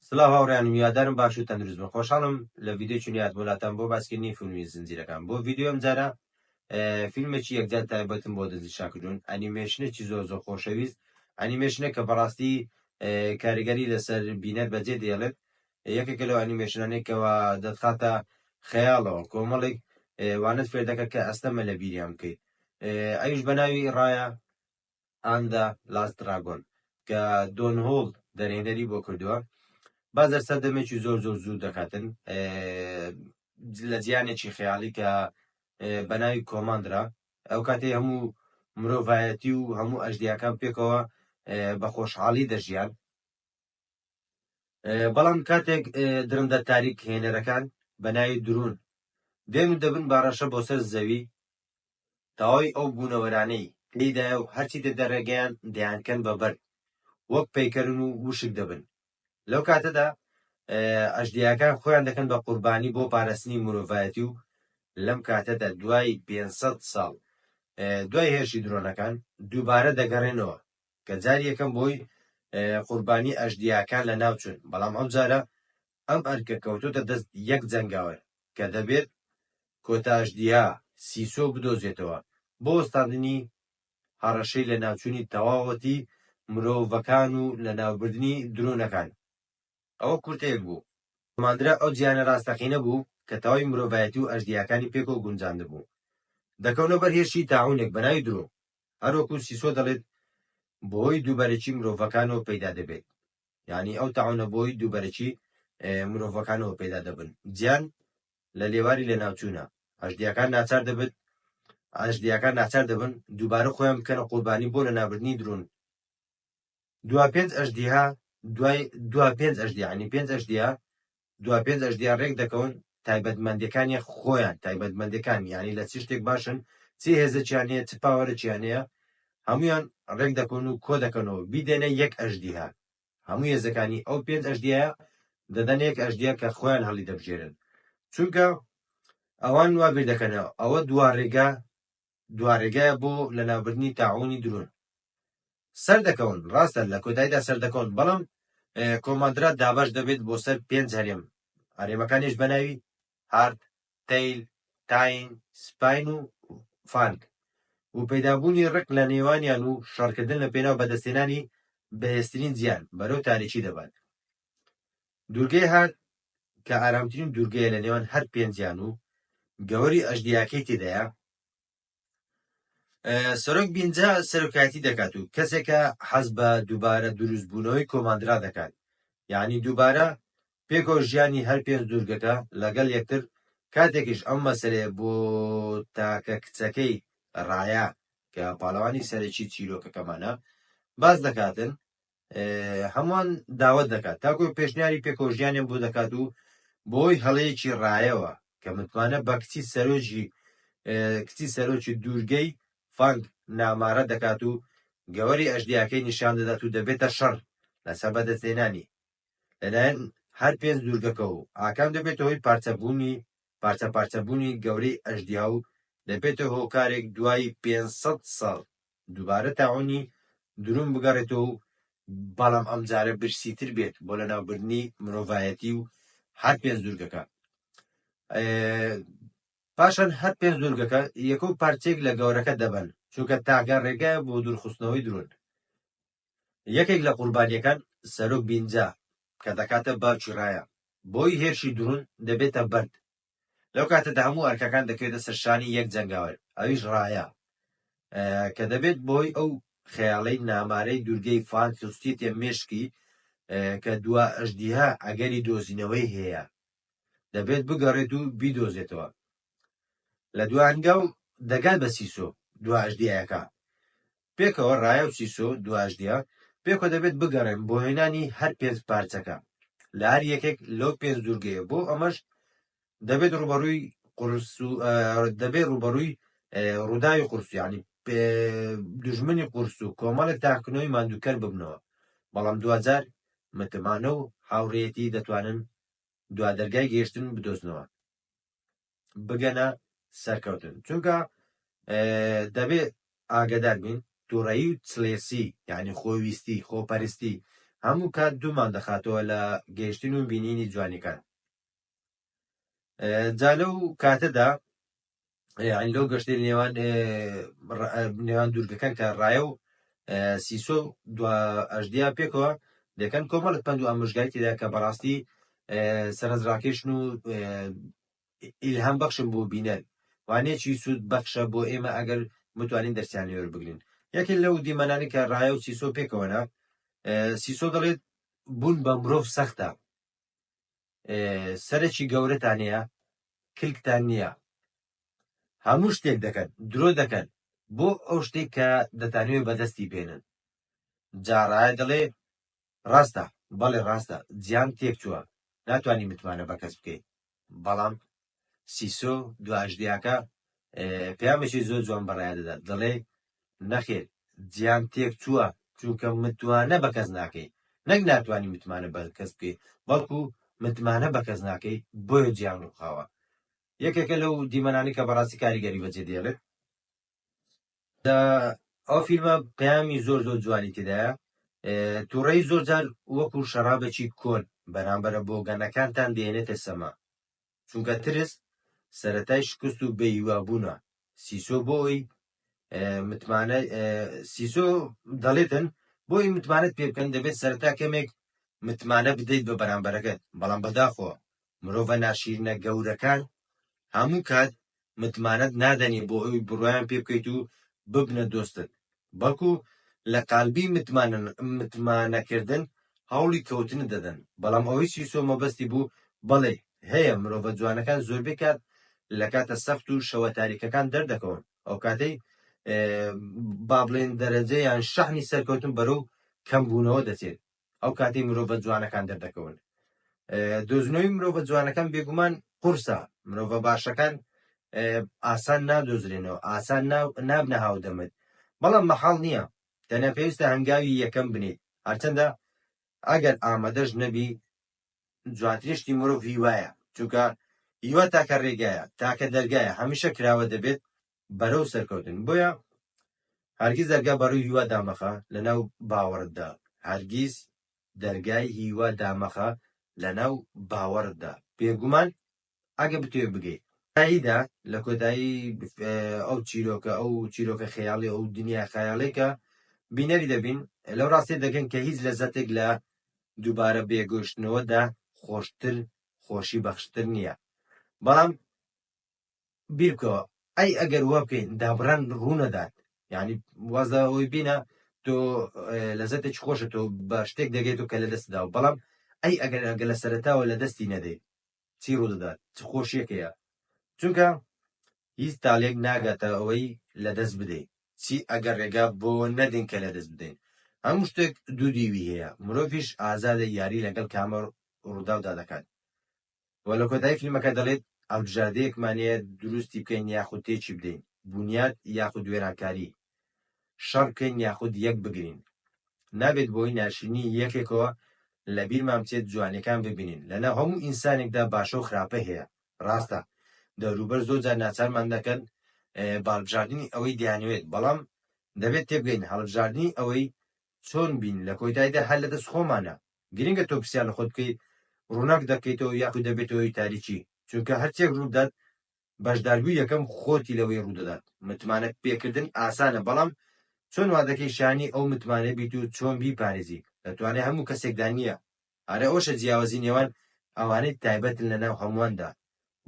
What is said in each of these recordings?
سلاو هاوڕێیان هیوادارم باش و تەندروست بن خۆشحاڵم لە ڤیدیۆکی نوێ هاتمەوە لاتان بۆ باسکردنی فیلمی زنجیرەکان بۆ ڤیدیۆ ئەمجارە فیلمێکی یەکجار تایبەتم بۆ دەزی شاکجون ئەنیمێشنێکی زۆر زۆر خۆشەویست ئەنیمێشنێک کە بەڕاستی کاریگەری لەسەر بینەر بەجێ دێڵێت یەکێکە لەو ئەنیمێشنانێکەوە دەتخاتە خەیاڵەوە کۆمەڵێک وانت فێردەکە کە ئەستەمە لە بیریان بکەیت ئەوش بە ناوی ڕایە ئاند دە لاست دراگۆن، کە دۆن هوڵ دەرهێنەری بۆ کردووە، بازەر سەردەمێکی زۆر زۆر زوو دەکاتن لە جیانێکی خەیاڵی کە بەناوی کۆماندرا ئەو کاتی هەموو مرۆڤایەتی و هەموو ئەژدیاکان پێکەوە بە خۆشحاڵی دەژیان بەڵام کاتێک درندە تاریک هێنەرەکان بە ناوی درون دێن و دەبن باڕەشە بۆ سەر زەوی داوای ئەو بوونەوەرانەی تێیدایە و هەرچی تر دەرێگەیان دەیانکەن بە بەرد وەک پەیکەرن و وشک دەبن لەو کاتەدا ئەژدیاکان خۆیان دەکەن بە قوربانی بۆ پارستنی مرۆڤایەتی و لەم کاتەدا دوای پێنجسەد ساڵ دوای هێرشی درۆنەکان دووبارە دەگەڕێنەوە کە جاری یەکەم بۆی قوربانی ئەژدیاکان لە ناوچون بەڵام ئەم جارە ئەم ئەرکە کەوتۆتە دەست یەک جەنگاوەر کە دەبێت کۆتاشدیها سیسۆ بدۆزێتەوە بۆ وەستاندنی هەڕەشەی لەناوچوونی تەواوەتی مرۆڤەکان و لەناوبردنی درۆنەکان. ئەوە کورتەیەک بوو. ماندرا ئەو جیهانە ڕاستەقینە بوو کە تەواوی مرۆڤایەتی و ئەژدیهاکانی پێکەوە گونجاندبوو. دەکەونە بەر هێرشی تاعوونێک بە ناوی درۆ. هەروەکو سیسۆ دەڵێت، بەهۆی دووبەرەکی مرۆڤەکانەوە پەیدا دەبێت. یانی ئەو تاعونە بۆی دووبەرەکی مرۆڤەکانەوە پەیدا دەبن جیان لە لێواری لەناوچوونە ئەژدیاکان ناچار دەبت ئەژدیاکان ناچار دەبن دووبارە خۆیان بکەنە قوربانی بۆ لە نابردنی درون دوا پێنج ئەژدیها دوای دوا پێنج ئەژدیانی پێنج ئەژدیا دوا پێنج ئەژدیا رێک دەکەون تایبەتمەندیەکانیان خۆیان تایبەتمەندەکان یانی لە چ شتێک باشن چ هێزەکیان هەیە چ پاوەرەکیان هەیە هەمویان رێک دەکەون و کۆ دەکەنەوە بیدەنە یەک ئەژدیها هەموو هێزەکانی ئەو پێنج ئەژدیایە دەدەن یەک ئەژدیا کە خۆیان هەڵی دەبژێرن چونکە ئەوان وا بیر دەکەنەوە ئەوە دوا رێگا دوارێگایە بۆ لەناوبردنی تاعوونی درون. سەردەکەون، ڕاستە لە کۆتاییدا سەردەکەون، بەڵام کۆماندرا دابەش دەبێت بۆ سەر پێنج هەرێم، هەرێمەکانیش بە ناوی هارد، تەیل، تاین، سپاین و فانگ و پەیدابوونی ڕق لە نێوانیان و شەڕکردن لە پێناو بەدەستهێنانی بەهێزترین زیان، بەرەو تاریکی دەبات. دوورگەی هار کە ئارامترین دوورگەیە لە نێوان هەر پێنجیان و گەوەری ئەژدیاکەی تێدایە سەرۆک بینجا سەرۆکایەتی دەکات و کەسێکە حەز بە دووبارە دروستبوونەوەی کۆماندرا دەکات یعنی دووبارە پێکۆ ژیانی هەر پێنج دوورگەکە لەگەڵ یەکتر کاتێکیش ئەم مەسلەیە بۆ تاکە کچەکەی ڕایە کە پاڵەوانی سەرەکی چیرۆکەکەمانە باز دەکاتن هەمووان داوەت دەکات تاکۆ پێشنیاری پێکۆژیانیان بۆ دەکات و بۆی هەڵەیەکی ڕایەوە کە متمانە بە کچی سەرۆکی کچی سەرۆکی دوورگەی فانگ نامارە دەکات و گەوەری ئەژدیاکەی نیشان دەدات و دەبێتە شەڕ لەسەر بەدەستێنانی لەلایەن هەر پێنج دوورگەکە و ئاکام دەبێتە هۆی پارچەبوونی پارچە پارچەبوونی گەورەی ئەژدیا و دەبێتە هۆکارێک دوای 500 ساڵ دووبارە تاعونی دروون بگەڕێتەوە و بەڵام ئەمجارە برسیتر بێت بۆ لەناوبردنی مرۆڤایەتی و هەر پێنج دوورگەکە پاشان هەر پێنج دوورگەکە یەکە و پارچێک لە گەورەکە دەبن چونکە تاگە ڕێگایە بۆ دوورخستنەوەی درۆن یەکێک لە قوربانیەکان سەرۆک بینجا کە دەکاتە باوکی ڕایە بۆی هێرشی درون دەبێتە بەرد لەو کاتەدا هەموو ئەرکەکان دەکەوێتە سەرشانی یەک جەنگاوەر ئەویش ڕایە کە دەبێت بۆی ئەو خەیاڵەی نامارەی دوورگەی فان خستیتێ مشکی کە دوا ئەژدیها ئەگەری دۆزینەوەی هەیە دەبێت بگەڕێت و بیدۆزێتەوە لە دوانگە و دەگات بە سیسۆ دواژدیەکە پێکەوە ڕایا و سیسۆ دواجدیا پێکەوە دەبێت بگەڕێن بۆ هێنانی هەر پێنج پارچەکە لە هەر یەکێک لەو پێنج دوورگەیە بۆ ئەمەش دەبێت ڕوبەڕووی قرس و دەبێت ڕوبەڕووی ڕووداوی قورسیانی دژمنی قورس و کۆمەڵێک تاکنەوەی ماندووکەر ببنەوە بەڵام دوجار متمانە و هاوڕێتی دەتوانن دوا دەرگای گەیشتن بدۆزنەوە بگەنە سەرکەوتن چونکە دەبێ ئاگدار بین تووڕەیی و چلێسی یعنی خۆویستی خۆپەرستی هەموو کات دوومان دەخاتەوە لە گەیشتن و بینینی جوانیکان جا لەو کاتەدا لەو گەشتی نێوان نێوان دوورگەکان کە ڕایە و سیسۆ و دوا ئەژدیا پێکەوە دەکەن کۆمەڵک پەند و ئامۆژگاری تێدا کە بەڕاستی سەرنجڕاکێشن و ئیلهام بەخشم بۆ بینەر وانێکی سوود بەخشە بۆ ئێمە ئەگەر متوانین دەرسیان لێوەر بگرین یەکێ لەو دیمەنانی کە ڕایە و سیسۆ پێکەوەە سیسۆ دەڵێت بوون بە مرۆڤ سەختە سەرەکی گەورەتان هەیە کلکتان نییە هەموو شتێک دەکەن درۆ دەکەن بۆ ئەو شتێک کە دەتانوێ بەدەستی بێنن جا ڕایە دەڵێ ڕاستە بەڵێ ڕاستە جیان تێک چووە ناتوانانی متمانە بە کەس بکەیت بەڵام سیسۆ دواژدیاکە پامێکی زۆر جوان بەڕای دەدات دەڵێ نەخێر جیان تێک چووە چونکە متوانە بە کەس ناکەی نەک ناتوانانی متمانە بە کەس بکەیت بەڵکو متمانە بە کەس ناکەی بۆیە جیان ڕوخاوە یەکێکە لەو دیمەنانی کە بەڕاستی کاریگەری بەجێ دێڵێت ئەو فیلمە پەیامی زۆر زۆر جوانی تێدایە تووڕێی زۆر جار وەکو شەرابێکی کۆن بەرامبەرە بۆ گەنەکانتان دێنێتە سەما چونکە ترس سەتای شکست و بەیوابوونا سیسۆ بۆی متمانە سیسۆ دەڵێتن بۆی متمانەت پێ بکەن دەبێت سەرتا کەمێک متمانە بدەیت بە بەرامبەرەکەت بەڵام بەداخۆ مرۆڤە ناشیرنە گەورەکان هەموو کات متمانەت نادەنێ بۆ ئەوی بڕوایان پێ بکەیت و ببنە دۆستت بەڵکو لە قالبی متمانەکردن هەوڵی کەوتنت دەدەن بەڵام ئەوەی سیسۆ مەبەستی بوو بەڵێ هەیە مرۆڤە جوانەکان زۆربەی کات لە کاتە سەخت و شەوە تاریکەکان دەردەکەون ئەو کاتەی بابلێن دەرەجە یان شەحنی سەرکەوتن بەرەو کەم بوونەوە دەچێت ئەو کاتەی مرۆڤە جوانەکان دەردەکەون دۆزنەوەی مرۆڤە جوانەکان بێگومان قورسە مرۆڤە باشەکان ئاسان نادۆزرێنەوە ئاسان نابنە هاودەمت بەڵام مەحاڵ نییە تەنە پێویستە هەنگاوی یەکەم بنیت هەرچەندە ئەگەر ئامادەش نەبی جوانترشتی مرۆڤ هیوایە چونکە هیوا تاکە ڕێگایە تاکە دەرگایە هەمیشە کراوە دەبێت بەرەو سەرکەوتن بۆیە هەرگیز دەرگا بەڕووی هیوا دامەخە لەناو باوەڕتدا هەرگیز دەرگای هیوا دامەخە لەناو باوەڕتدا بێگومان ئەگە بتوێ بگەیت تاییدا لە کۆتایی ئەو چیرۆکە ئەو چیرۆکە خەیاڵی ئەو دنیا خەیاڵێکە بینەری دەبین لەو ڕاستی دەگەن کە هیچ لە زەتێک لە دووبارە بێگەشتنەوەدا خۆشتر خۆشی بەخشتر نییە بەڵام بیربکەوە ئەی ئەگەر وا بکەین دابڕان ڕوونەدات یعنی واز لە ئەوەی بینە تۆ لەزەتێکی خۆشە تۆ بە شتێک دەگەێت و کە لە دەستدا و بەڵام ئەی ئەگەر ئەگە لە سەرتاوە لە دەستی نەدەیت چی ڕوو دەدات چ خۆشیەکەیە چونکە هیچ تاالێک ناگاتە ئەوەی لە دەست بدەیت چی ئەگەر ڕێگا بۆ نەدەین کە لە دەست بدەین هەموو شتێک دوو دیوی هەیە مرۆڤش ئازادە یاری لەگەڵ کامە ڕووداودا دەکات و لە کۆتایی فیلمەکە دەڵێت، هەڵبژاردەیەکمان هەیە دروستی بکەین یاخود تێکی بدەین، بونیاد یاخود وێرانکاری، شەڕ بکەین یاخود یەک بگرین. نابێت بەهۆی ناشرینیی یەکێکەوە لە بیرمان بچێت جوانییەکان ببینین، لەناو هەموو ئینسانێکدا باشە و خراپە هەیە، ڕاستە دەوروبەر زۆر جار ناچارمان دەکەن بەهەڵبژاردنی ئەوەی دەیانەوێت، بەڵام دەبێت تێبگەین هەڵبژاردنی ئەوەی چۆن بین لە کۆیتایدا هەر لە دەست خۆمانە. گرنگە تۆ پرسیار لە خۆت بکەیت ڕووناک دەکەیتەوە یاخود دەبێتەوە هۆی تاریکی چونکە هەرچێک ڕووبدات بەشداربووی یەکەم خۆتی لەوەی ڕوودەدات متمانە پێکردن ئاسانە بەڵام چۆن وا دەکەی شانی ئەو متمانە بیت و چۆن بیپارێزی لە توانای هەموو کەسێکدا نییە ئارە ئەوشە جیاوازی نێوان ئەوانەی تایبەتن لەناو هەموواندا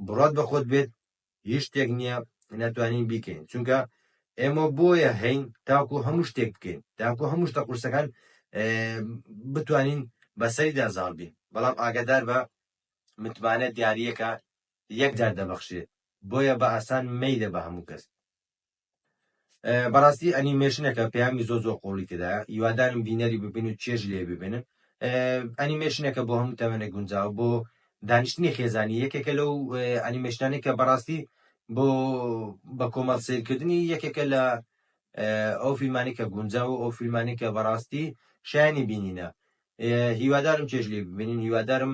بڕات بە خۆت بێت هیچ شتێک نییە ناتوانین بیکەین چونکە ئێمە بۆیە هەین تاکو هەموو شتێک بکەین تاکو هەموو شتە قورسەکان بتوانین بەسەریدا زاڵ بین بەڵام ئاگدار بە متمانە دیارریەکە یەکجار دەبەخشێت بۆیە بە ئاسان مەیدە بە هەموو کەس بەڕاستی ئەنیمێشنەکە پەیامی زۆ زۆ قۆڵی تێدا یوادارم بینەری ببین و چێژ لێ ببێنن ئەنیمێشنەکە بۆ هەموو تەوێنە گونجاو بۆ دانیشتنی خێزانی یەکێکە لەو ئەنیمێشتانی کە بەڕاستی بۆ بە کۆمەڵ سیرکردنی یەکێکە لە ئەو فیلمانی کە گونجا و ئەو فیلمانی کە بەڕاستی شایانی بینینە هیوادارم چێژ لێ ببینین هیوادارم